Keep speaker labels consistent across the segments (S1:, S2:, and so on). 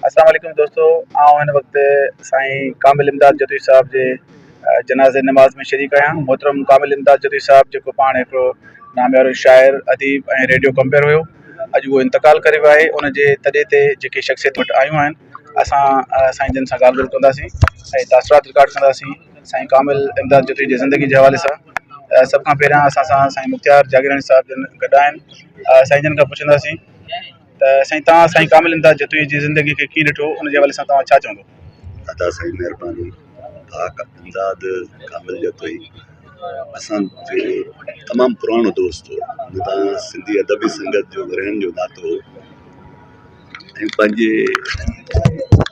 S1: اسلام عليڪم دوستو آئون هن وقت سائين ڪامل امداد جتوئي صاحب جي جنازي نماز ۾ شريڪ آهيان محترم ڪامل امداد جتوئي صاحب جيڪو پاڻ هڪڙو ناميارو شاعر اديب ۽ ريڊيو ڪمپيئر هيو اڄ هو انتقال ڪري ويو آهي ان جي تڏي تي جيڪي شخصيت وٽ آيون آهن اسان سائين جن سان ڳالهه ٻولهه ڪنداسين ۽ تاثرات رڪارڊ ڪنداسين سائين ڪامل امداد جتوئي جي زندگي جي حوالي سان سڀ کان پهريان اسان سان سائين مختيار جاگيراڻي صاحب جن گڏ آهن سائين جن کان پڇنداسين ته سائين توهان سائين ڪامل امداد جتوئي جي زندگي کي ڪيئن ڏٺو ان جي حوالي سان توهان ڇا چوندو؟ ادا سائين
S2: مهرباني پاڪ امداد ڪامل جتوئي اسان جو تمام پراڻو دوست هو ان سان سنڌي ادبي سنگت جو ورهين جو ناتو هو ۽ پنهنجي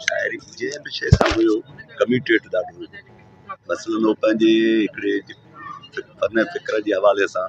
S2: شاعري جنهن به شيء سان هيو ڪميٽيڊ ڏاڍو هو مثلاً هو پنهنجي هڪڙي فڪر جي حوالي سان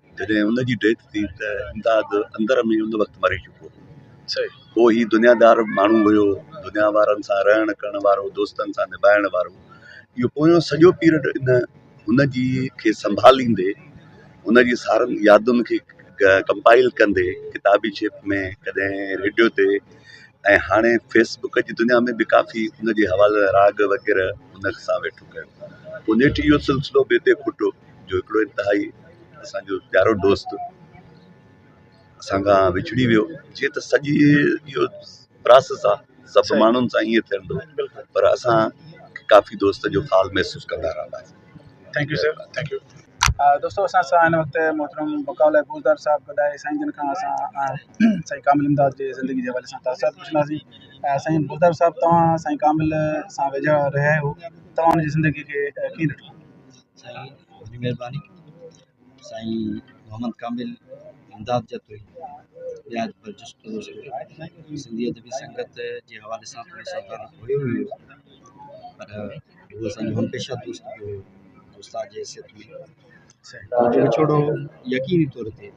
S2: جڏهن ان جي ڊيٿ ٿي ته امداد اندر ۾ ان وقت مري چڪو هو پوء هي دنيا دار ماڻهو هيو دنيا وارن سان رهڻ ڪرڻ وارو دوستن سان نڀائڻ وارو اهو پويان سڄو پيرڊ ان ان جي کي سنڀاليندي ان جي سارن يادن کي ڪمپائل ڪندي ڪتابي شيپ ۾ ڪڏهن ريڊيو تي ۽ هاڻي فيسبوڪ جي دنيا ۾ به ڪافي ان جي حوالي راڳ وغيره ان سان ويٺو ڪيو پوء نيٺ اهو سلسلو به اتي کٽو جو هڪڙو انتهائي اسان جو پيارو دوست اسان کان وڇڙي ويو جيئن ته سڄي اهو پراسيس آ سڀ ماڻهن سان ائين ٿيندو پر اسان ڪافي دوست جو حال محسوس ڪندا رهنداسين thank you sir
S1: thank you دوستو اسان سان هن وقت محترم بقاء الله بوزدار صاحب گڏ آهي سائين جن کان اسان سائين ڪامل امداد جي زندگي جي حوالي سان تاثرات پڇنداسين سائين بوزدار صاحب توهان سائين ڪامل سان ويجها رهيا آهيو توهان ان جي زندگي کي ڪيئن ڏٺو سائين
S3: وڏي مھرباني سائين محمد ڪامل امداد جتوئي ٻيا پر جسٽ سنڌي ادبي سنگت جي حوالي سان ٿورو سا تعلق هيو ئي هيو پر هو اسان جو همپيشه دوست به هيو استاد جي حيثيت ۾ جو وڇوڙو يقيني طور تي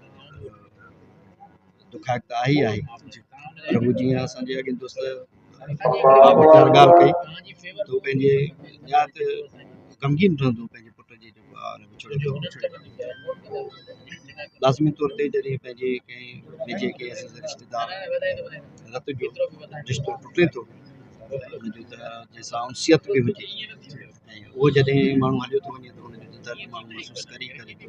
S3: دکائڪ ته آهي ئي آهي پر هو جيئن اسان جي اڳين دوست بابت ڳالهه ڪئي ته هو پنهنجي نهايت غمگين رهندو پنهنجي پٽ جي جيڪو آء هن وڇوڙي ٿيو لازمي طور تي جڏهن پنهنجي ڪنهن نجي ڪنهن اسان جي رشتيدار رت جو رشتو ٽٽي ٿو ان جو ته جنهن سان انسيت به هجي ۽ اهو جڏهن ماڻهو هليو ٿو وڃي ته ان جو ته درد ماڻهو محسوس ڪري ئي ڪري ٿو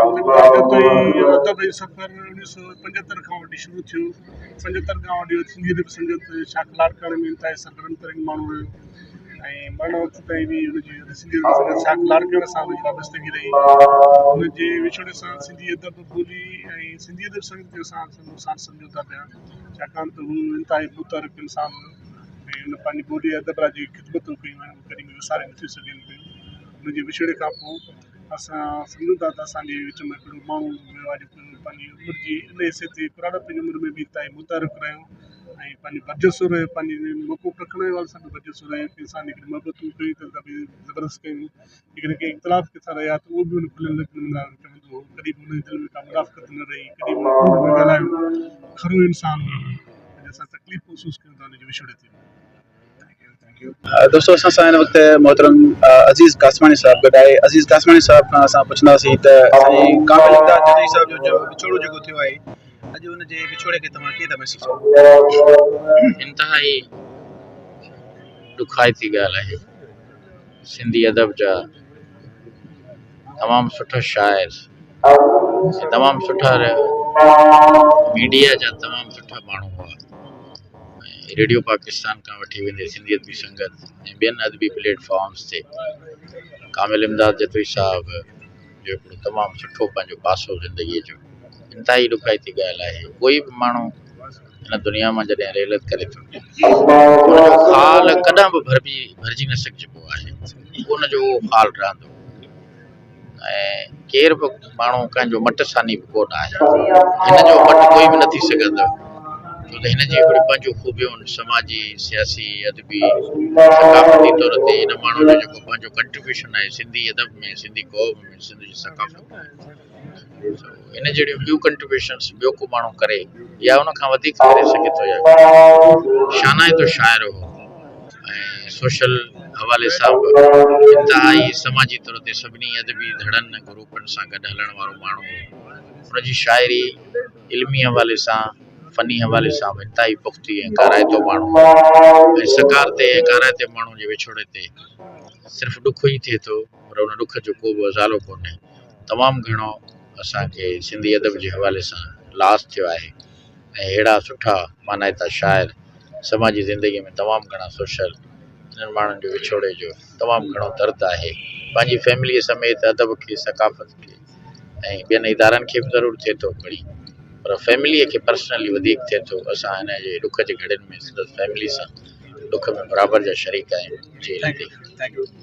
S4: ادبي سفر اڻويهه سؤ پنجهتر کان وٺي شروع ٿيو پنجهتر کان وٺي سنڌي ادب سنگت شاهه ڪلاڪڙ ۾ انتهائي سرگرم ترين ماڻهو هيو ۽ مرڻ وقت تائين به هن جي سنڌي ادب سنگت شاهه ڪلاڪڙ سان وڏي وابستگي رهي هن جي وڇوڙي سان سنڌي ادب ٻولي ۽ سنڌي ادب سنگت جو اسان سان سمجهو ٿا پيا ڇاڪاڻ ته هو انتهائي متحرڪ انسان هو ۽ هن پنهنجي ٻولي ادب لاء جي خدمتون ڪيون آهن ڪڏهن به وساري نٿيون سگهجن پيون هن جي وڇوڙي کان پوء اسان سمجهون ٿا ته اسان جي وچ ۾ هڪڙو ماڻهو هيو آهي جيڪو پنهنجي عمر جي ان حصي تي پراڻپ جي عمر ۾ به اتاهي متعارف رهيو ۽ پنهنجي برجسو رهيو پنهنجي موقعو رکڻ جي حوالي سان به برجسو رهيو ڪنهن سان هڪڙي محبتون ڪيون ته ڪبي زبردست ڪيون جيڪڏهن ڪي اختلاف ڪنهن سان رهيا ته اهو به ان کليل لفظن ۾ ٻڌايو چوندو هو ڪڏهن به هن جي دل ۾ ڪا منافقت نه رهي ڪڏهن به ڪوڙ نه ڳالهايو کرو انسان هو جنهن سان تڪليف محسوس ڪيون ته ان جي وڇوڙي تي
S1: دوستو اسان سان هن وقت محترم عزيز قاسماڻي صاحب گڏ آهي عزيز قاسماڻي صاحب کان اسان پڇنداسين ته سائين ڪامل امداد جدوي صاحب جو جو وڇوڙو جيڪو ٿيو آهي اڄ ان جي وڇوڙي کي توهان ڪيئن ٿا محسوس ڪيو
S5: انتهائي ڏکائتي ڳالهه آهي سنڌي ادب جا تمام سٺا شاعر تمام سٺا ميڊيا جا تمام سٺا ماڻهو هئا ريڊيو پاڪستان کان وٺي ويندي سنڌي ادبي سنگت ۽ ٻين ادبي پليٽ فارمز تي ڪامل امداد جتوئي صاحب جو هڪڙو تمام سٺو پنهنجو پاسو زندگي جو انتهائي ڏکائتي ڳالهه آهي ڪوئي به ماڻهو هن دنيا مان جڏهن رحلت ڪري ٿو خال ڪڏهن به ڀرجي نه سگهجبو آهي ان جو خال رهندو ۽ ڪير به ماڻهو ڪنهن جو مٽ ثاني به ڪو نه آهي. هن جو مٽ ڪوئي به نٿي سگهندو، ڇو ته هن جي هڪڙيون پنهنجون خوبيون، سماجي، سياسي، ادبي، ثقافتي طور تي هن ماڻهوء جو جيڪو پنهنجو ڪنٽريبيوشن آهي سنڌي ادب ۾، سنڌي قوم ۾، سنڌ جي ثقافت ۾. ان جهڙيون ٻيون ڪنٽريبيوشنس ٻيو ڪو ماڻهو ڪري يا ان کان وڌيڪ ڪري سگهي ٿو يا ڪري شانائتو شاعر هو ۽ سوشل حوالي سان به انتهائي سماجي طور تي سڀني ادبي ڌڙن ۽ گروپن سان گڏ هلڻ وارو ماڻهو هو ان جي شاعري علمي حوالي سان فني حوالي سان به انتهائي پختي ۽ ڪارائتو ماڻهو هو ۽ سڪارتي ۽ ڪارائتي ماڻهو جي وڇوڙي تي صرف ڏک ئي ٿئي ٿو پر ان ڏک جو ڪو به ازالو ڪونهي تمام گهڻو اسانکي سنڌي ادب جي حوالي سان لاس ٿيو آهي ۽ ههڙا سٺا مانائتا شاعر سماجي زندگي ۾ تمام گهڻا سوشل انهن ماڻهن جو وڇوڙي جو تمام گهڻو درد آهي پنهنجي فيملي سميت ادب کي ثقافت کي ۽ ٻين ادارن کي به ضرور ٿئي ٿو پڙهي پر فيملي کي پرسنلي وڌيڪ ٿئي ٿو اسان هن جي ڏک جي گهڙين ۾ سندس فيملي سان ڏک ۾ برابر جا شريڪ آهيون جي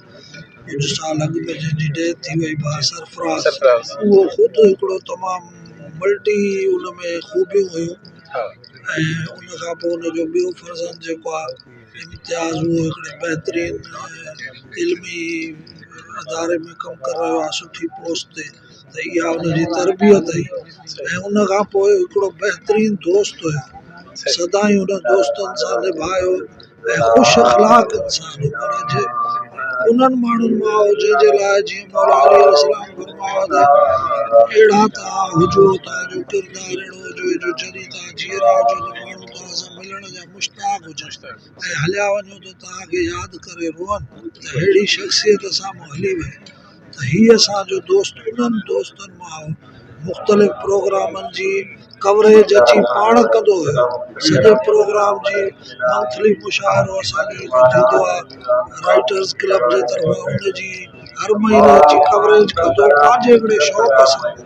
S6: ڪجهه سال اڳ ۾ جنهن جي ڊيٿ ٿي وئي با سرفراز اهو خود هڪڙو تمام ملٽي ان ۾ خوبيون هيون ۽ ان کان پوء ان جو ٻيو فرزند جيڪو آ امتياز اهو هڪڙي بهترين علمي اداري ۾ ڪم ڪري رهيو آ سٺي پوسٽ تي ته اها ان جي تربيت هئي ۽ ان کان پوء هڪڙو بهترين دوست هيو. سدائين هن دوستن سان نڀايو ۽ خوش اخلاق انسان هو پر اڄ انهن ماڻهن مان آهو جنهن جي لاء جيئن مولا علي عليه السلام فرمايو ته اهڙا توهان هجو توهان جو ڪردار اهڙو هجي جو جڏهن توهان جيئرا هجو ته ماڻهو توهان سان ملڻ جا مشتاق هجن ۽ هليا وڃو ته توهان کي ياد ڪري روئن ته اهڙي شخصيت سامهون هلي وئي. ته هي اسان جو دوست انهن دوستن مان هو. مختلف پروگرامن جي ڪوريج اچي پاڻ ڪندو هيو. سڄي پروگرام جي منٿلي مشاعرو اسان جي هتي ٿيندو آهي. رائيٽرز ڪلب جي طرفان ان جي هر مهيني اچي ڪوريج ڪندو پنهنجي هڪڙي شوق سان.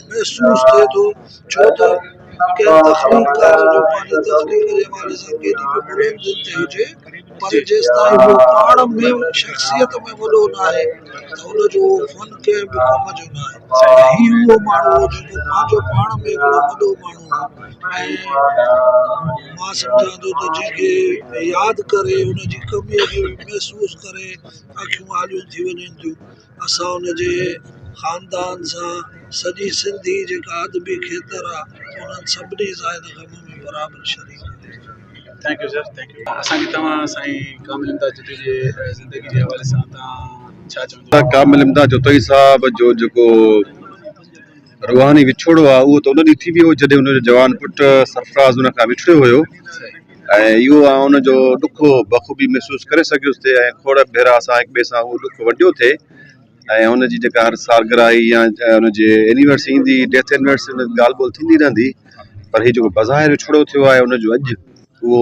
S6: محسوس ٿئي ٿو ڇو ته ڪنهن تخليقڪار جو پنهنجي تخليق جي حوالي سان ڪيڏي به بلند دل تي هجي پر جيستائين هو پاڻ ۾ شخصيت ۾ وڏو ناهي ته ان جو اهو فن ڪنهن به ڪم جو ناهي ۽ هي اهو ماڻهو هو جيڪو پنهنجو پاڻ ۾ هڪڙو وڏو ماڻهو هو ۽ مان سمجهان ٿو ته جنهن کي ياد ڪري ان جي ڪميء کي محسوس ڪري اکيون آليون ٿي وڃن ٿيون اسان ان جي خاندان سان سڄي سنڌ جي جيڪا ادبي کيتر آ انهن سڀني زاهد غم ۾ برابر شريڪ آهي. Thank
S1: you sir thank you اسان کي توهان سائين ڪامل امداد جتوئي جي زندگي جي حوالي سان توهان ڇا چوندو. ڪامل امداد جتوئي
S2: صاحب جو جيڪو. روحاني وڇوڙو آهي اهو ته ان ڏينهن ٿي ويو جڏهن ان جو جوان پٽ سرفراز ان کان وڇڙيو هيو ۽ اهو آئون ان جو ڏک بخوبي محسوس ڪري سگهيس ٿي ۽ کوڙ ڀيرا اسان هڪ ٻئي سان اهو ڏک ونڊيو ٿي ۽ ان جي جيڪا هر سالگراهي يا ان جي اينيورسري ايندي ڊيٿ اينيورسري ڳالهه ٻولهه ٿيندي رهندي پر هي جيڪو بظاهر وڇوڙو ٿيو آهي ان جو اڄ اهو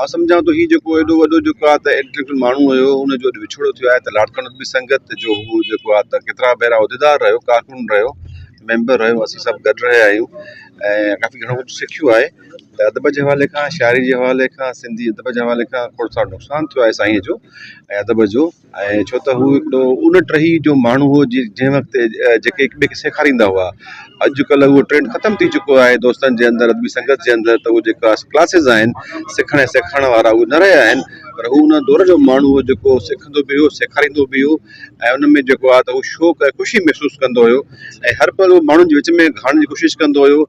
S2: آء سمجهان ٿو هي جيڪو ايڏو وڏو جيڪو آ ته انٽيليڪچوئل ماڻهو هيو ان جو اڄ وڇوڙو ٿيو آهي ته لاڙڪاڻي ۾ به سنگت جو هو جيڪو آ ته ڪيترا ڀيرا عهديدار رهيو ڪارڪن رهيو ميمبر رهيو اسين سڀ گڏ رهيا آهيون ۽ ڪافي گهڻو ڪجهه سکيو آهي ته ادب جي حوالي کان شاعري جي حوالي کان سنڌي ادب جي حوالي کان کڙ ساڙ نقصان ٿيو آهي سائين جو ۽ ادب جو ۽ ڇو ته هو هڪڙو ان ٽهي جو ماڻهو هو جنهن وقت جيڪي هڪ ٻئي کي سيکاريندا هئا اڄڪلهه اهو ٽرينڊ ختم ٿي چڪو آهي دوستن جي اندر ادبي سنگت جي اندر ته اهو جيڪا ڪلاسز آهن سکڻ ۽ سيکارڻ وارا اهي نه رهيا آهن پر هو ان دور جو ماڻهو هو جيڪو سکندو به هو سيکاريندو به هو ۽ ان ۾ جيڪو آهي ته هو شوق ۽ خوشي محسوس ڪندو هيو ۽ هر پل هو ماڻهن جي وچ ۾ گهڙڻ جي ڪوشش ڪندو هيو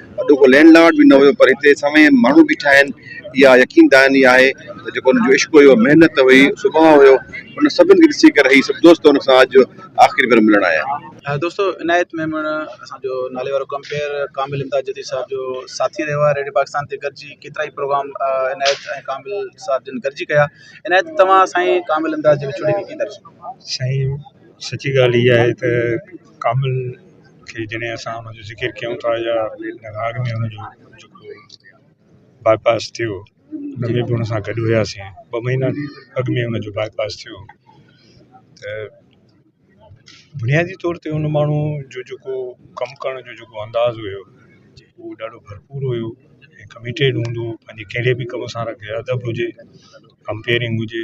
S2: اڏو ڪو لينڊ لارڊ به نه هيو پر هتي سوين ماڻهو بيٺا آهن اها يقين دهاني آهي ته جيڪو ان جو عشق هيو محنت هئي سڀاء هيو ان سڀن کي ڏسي ڪري هي سڀ دوست ان سان اڄ آخري ڀيرو ملڻ آيا. دوستو عنايت
S1: ميمڻ اسان جو نالي وارو ڪمپيئر ڪامل امداد جديد صاحب جو ساٿي رهيو آهي ريڊيو پاڪستان تي گڏجي ڪيترا ئي پروگرام عنايت ۽ ڪامل صاحب جن گڏجي ڪيا عنايت توهان سائين ڪامل امداد جي وڇوڙي کي ڪيئن ٿا ڏسو؟ سائين
S7: سچي ڳالهه اها آهي ته ڪامل کي جڏهن اسان ان جو ذڪر ڪيون ٿا يا راڳ ۾ ان جو جيڪو باء پاس ٿيو ان ۾ بھ ان سان گڏ ھياسين ٻه مھينا اڳ ۾ ان جو باء پاس ٿيو تھ بنيادي طور تي ان ماڻھو جو جيڪو ڪم ڪرڻ جو جيڪو انداز ھيو اھو ڏاڍو ڀرپور ھيو ڪميٽيڊ ھوندو ھو پنھنجي ڪھڙي بھ ڪم سان رڳي ادب ھجي ڪمپيئرنگ ھجي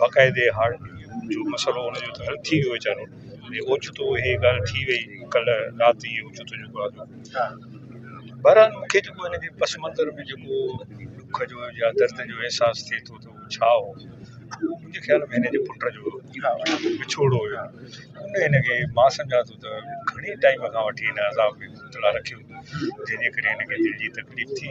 S7: باقاعدي هارٽ جو مسئلو ان جو حل ٿي ويو ويچارو ۽ اوچتو هي ڳالهه ٿي وئي ڪلهه رات جي اوچتو جيڪو آهي بهرحال مونکي جيڪو هن جي پس منظر ۾ جيڪو ڏک جو يا درد جو احساس ٿئي ٿو ته هو ڇا هو اهو منهنجي خيال ۾ هن جي پٽ جو وڇوڙو هيو ان هن کي مان سمجهان ٿو ته گهڻي ٽائيم کان وٺي هن عذاب ۾ مبتلا رکيو جنهن جي ڪري هن کي دل جي تڪليف ٿي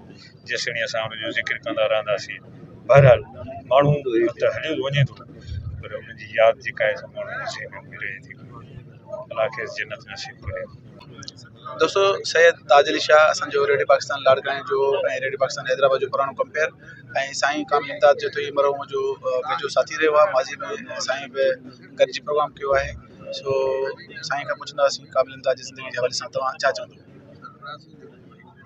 S7: جيسيتائين اسان ان جو ذڪر ڪندا رهنداسين بهرحال ماڻهو ته هليو وڃي ٿو پر ان جي ياد جيڪا آهي سا ماڻهن جي ذهنن ۾ رهي ٿي الله کيس جنت نصيب ڪري دوستو
S1: سيد تاج علي شاهه اسانجو ريڊيو پاڪستان لاڙڪاڻي جو ۽ ريڊيو پاڪستان حيدرآباد جو پراڻو ڪمپيئر ۽ سائين ڪامل امداد جو ٽيهه مرحوم جو ويجهو ساٿي رهيو آهي ماضي ۾ سائين به گڏجي پروگرام ڪيو آهي سو سائين کان پڇنداسين ڪامل امداد جي زندگي جي حوالي سان توهان ڇا چوندو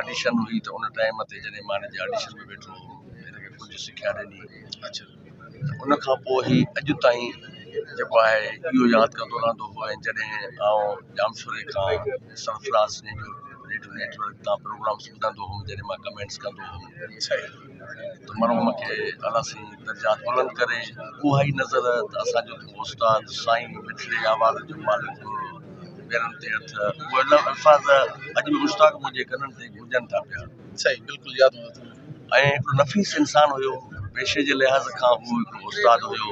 S8: آڊيشن هئي ته ان ٽائيم تي جڏهن مان هن جي آڊيشن ۾ ويٺو هوم هن کي ڪجهه سکيا ڏني
S1: ان کان
S8: پوء هي اڄ تائين جيڪو آهي اهو ياد ڪندو رهندو هو ۽ جڏهن آئون ڄامشوري کان سرفراز نيٽ نيٽ ورڪ تان پروگرامس ٻڌندو هوم جڏهن مان ڪمينٽس ڪندو هوم مرحوم کي الله سائين درجات بلند ڪري اها ئي نظر ته اسان جو استاد سائين مٺڙي آواز جو مالڪ هو پيرن تي هٿ اهي لفظ الفاظ اڄ به مشتاق منهنجي ڪنن تي گونجن ٿا پيا صحيح بلڪل ياد هو
S1: ۽ هڪڙو نفيس
S8: انسان هيو پيشي جي لحاظ کان هو هڪڙو استاد هيو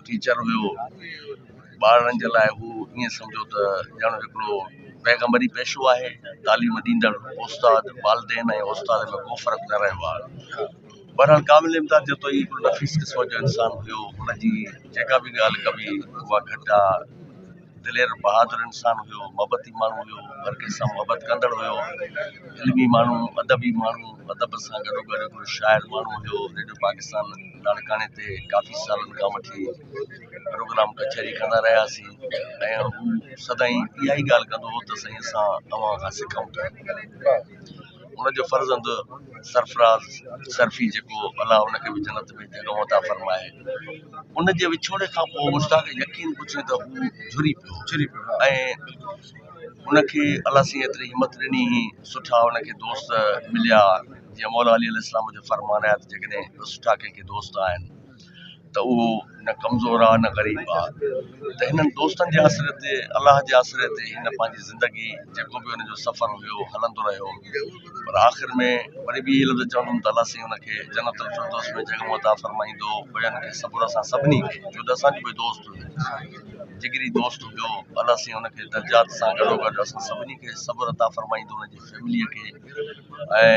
S8: ٽيچر هيو ٻارڙن جي لاء هو ائين سمجهو ته ڄڻ هڪڙو پيغمبري پيشو آهي، تعليم ڏيندڙ استاد، والدين ۽ استاد ۾ ڪو فرق نه رهيو آهي. بهرحال قابل امداد جتوئي هڪڙو نفيس قسم جو انسان هيو، هن جي جيڪا به ڳالهه ڪبي اها گهٽ آ، دلير بهادر انسان هيو، محبتي ماڻهو هيو، هر ڪنهن سان محبت ڪندڙ هيو، علمي ماڻهو، ادبي ماڻهو، ادب سان گڏوگڏ هڪڙو شاعر ماڻهو هيو، ريڊيو پاڪستان لاڙڪاڻي تي ڪافي سالن کان وٺي پروگرام ڪچهري ڪندا رهياسين ۽ هو سدائين اها ئي ڳالهه ڪندو هو ته سائين اسان اوهان کان سکون ٿا ان جو فرزند سرفراز سرفي جيڪو الله ان کي به جنت ۾ جڳهه عطا فرمائي ان جي وڇوڙي کان پوء مشتاق يقين پڇي ته هو جھري پيو جھري پيو ۽ ان کي الله سين ايتري همت ڏني سٺا ان کي دوست مليا جيئن مولا علي عليه السلام جو فرمان آهي ته جيڪڏهن سٺا ڪنهن کي دوست آهن ته اهو نه ڪمزور آ نه غريب آ ته هنن دوستن جي آسري تي الله جي آسري تي هن پنهنجي زندگي جيڪو به هن جو سفر هيو هلندو رهيو پر آخر ۾ وري به اهي لفظ چوندم ته الله سائين هن کي جنت الفردوس ۾ جڳهه عطا فرمائيندو بيان کي صبر سان سڀني کي جو ته اسان جو به دوست هيو جگري دوست هيو الله سائين هن کي درجات سان گڏو گڏ اسان سڀني کي صبر عطا فرمائيندو هن جي فيملي کي ۽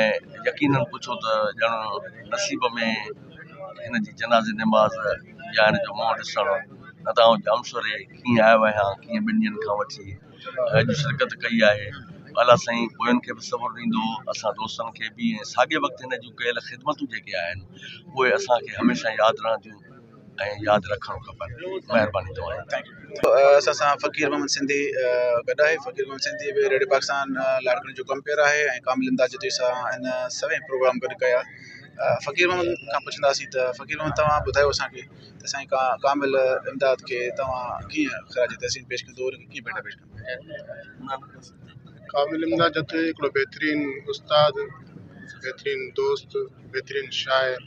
S8: يقينن پڇو ته ڄڻ نصيب ۾ هن جي جنازي نماز يا هن جو منهن ڏسڻ نه ته آئون ڄامشوري ڪيئن آيو آهيان ڪيئن ٻن ڏينهن کان وٺي اڄ شرڪت ڪئي آهي الا سائين پوين کي به صبر ڏيندو اسان دوستن کي به ۽ ساڳئي وقت هن جون ڪيل خدمتون جيڪي آهن اهي اسان کي هميشه ياد رهنديون ۽ ياد رکڻ کپن مهرباني توهان جي. اسان سان
S1: فقير محمد سنڌي گڏ آهي فقير محمد سنڌي به ريڊيو پاڪستان لاڙڪاڻي جو ڪمپيئر آهي ۽ ڪامل امداد جتوئي سان هن سوين پروگرام گڏ ڪيا فقير محمد کان پڇنداسين ته فقير محمد توهان ٻڌايو اسانکي ته سائين ڪا ڪامل امداد کي توهان ڪيئن خراج تحسين پيش ڪندو ان کي ڪيئن ڀيٽا پيش ڪندو ڪامل امداد
S4: جتوئي هڪڙو بهترين استاد بهترين دوست بهترين شاعر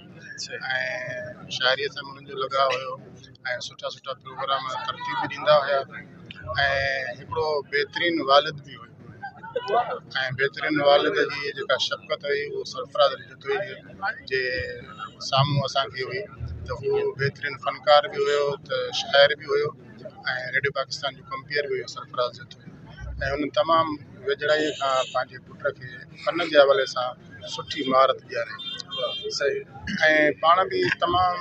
S4: ۽ شاعريء سان انهن جو لڳاء هيو ۽ سٺا سٺا پروگرام ترتيب به ڏيندا هيا ۽ هڪڙو بهترين والد به هيو ۽ بهترين والد جي جيڪا شفقت هئي هو سرفراز علي جتوئي جي سامهون اسان کي هئي ته هو بهترين فنڪار به هيو ته شاعر به هيو ۽ ريڊيو پاڪستان جو ڪمپيئر به هيو سرفراز جتوئي ۽ هن تمام ويجهڙائيء کان پنهنجي پٽ کي فن جي حوالي سان سٺي مھارت ڏياري ۽ پاڻ به تمام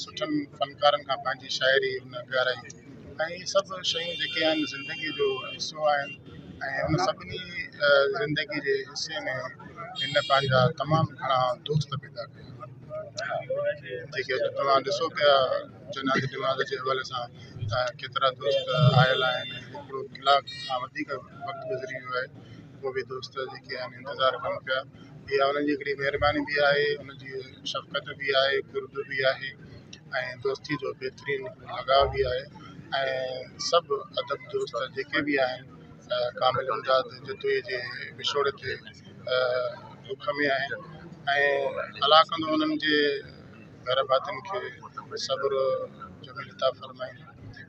S4: سٺن فنڪارن کان پنهنجي شاعري هن ڳارائي ۽ هي سڀ شيون جيڪي آهن زندگي جو حصو آهن ۽ ان سڀني زندگي جي حصي ۾ هن پنهنجا تمام گهڻا دوست پيدا ڪيا جيڪي اڄ توهان ڏسو پيا جنازي ڊمازي جي حوالي سان ته ڪيترا دوست آيل آهن هڪڙو ڪلاڪ کان وڌيڪ وقت گذري ويو آهي ڪو به دوست جيڪي آهن انتظار ڪن پيا اها انهن جي هڪڙي مهرباني به آهي انهن جي شفقت به آهي قرب به آهي ۽ دوستي جو بهترين لڳاء به آهي ۽ سڀ ادب دوست جيڪي به آهن ڪامل امداد جتوئي جي وڇوڙي تي ڏک ۾ آهن ۽ الا ڪندو انهن جي گهر ڀاتين کي صبر جو ملتا فرمائين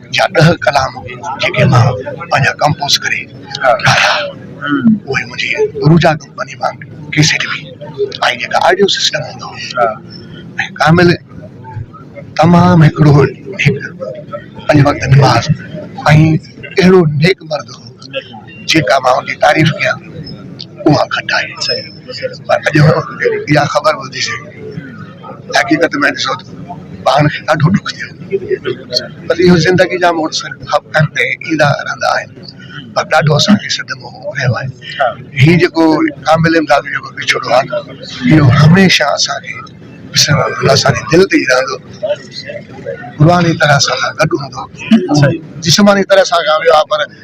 S6: جا ڏهه ڪلام جيڪي مان پنهنجا ڪمپوز ڪري ٺاهيا اهي منهنجي روجا ڪمپني مان ڪيسٽ ۾ آئي جيڪا آڊيو سسٽم هوندو هو ۽ ڪامل تمام هڪڙو نيڪ پنج وقت نماز ۽ اهڙو نيڪ مرد هو جيڪا مان ان جي تعريف ڪيان اها گهٽ آهي. اڄ اها خبر ٻڌي حقيقت ۾ ڏسو ته پاڻ کي ڏاڍو ڏک ٿيو پر اهو زندگي جا موڙ ايندا رهندا آهن پر ڏاڍو اسان کي صدمو رهيو آهي هي جيڪو ڪامل امداد جو وڇوڙو آهي نه اهو هميشه اسان کي پسرڻ اسان جي دل تي ئي رهندو روحاني طرح اسان سان گڏ هوندو جسماني طرح سان ويو آهي پر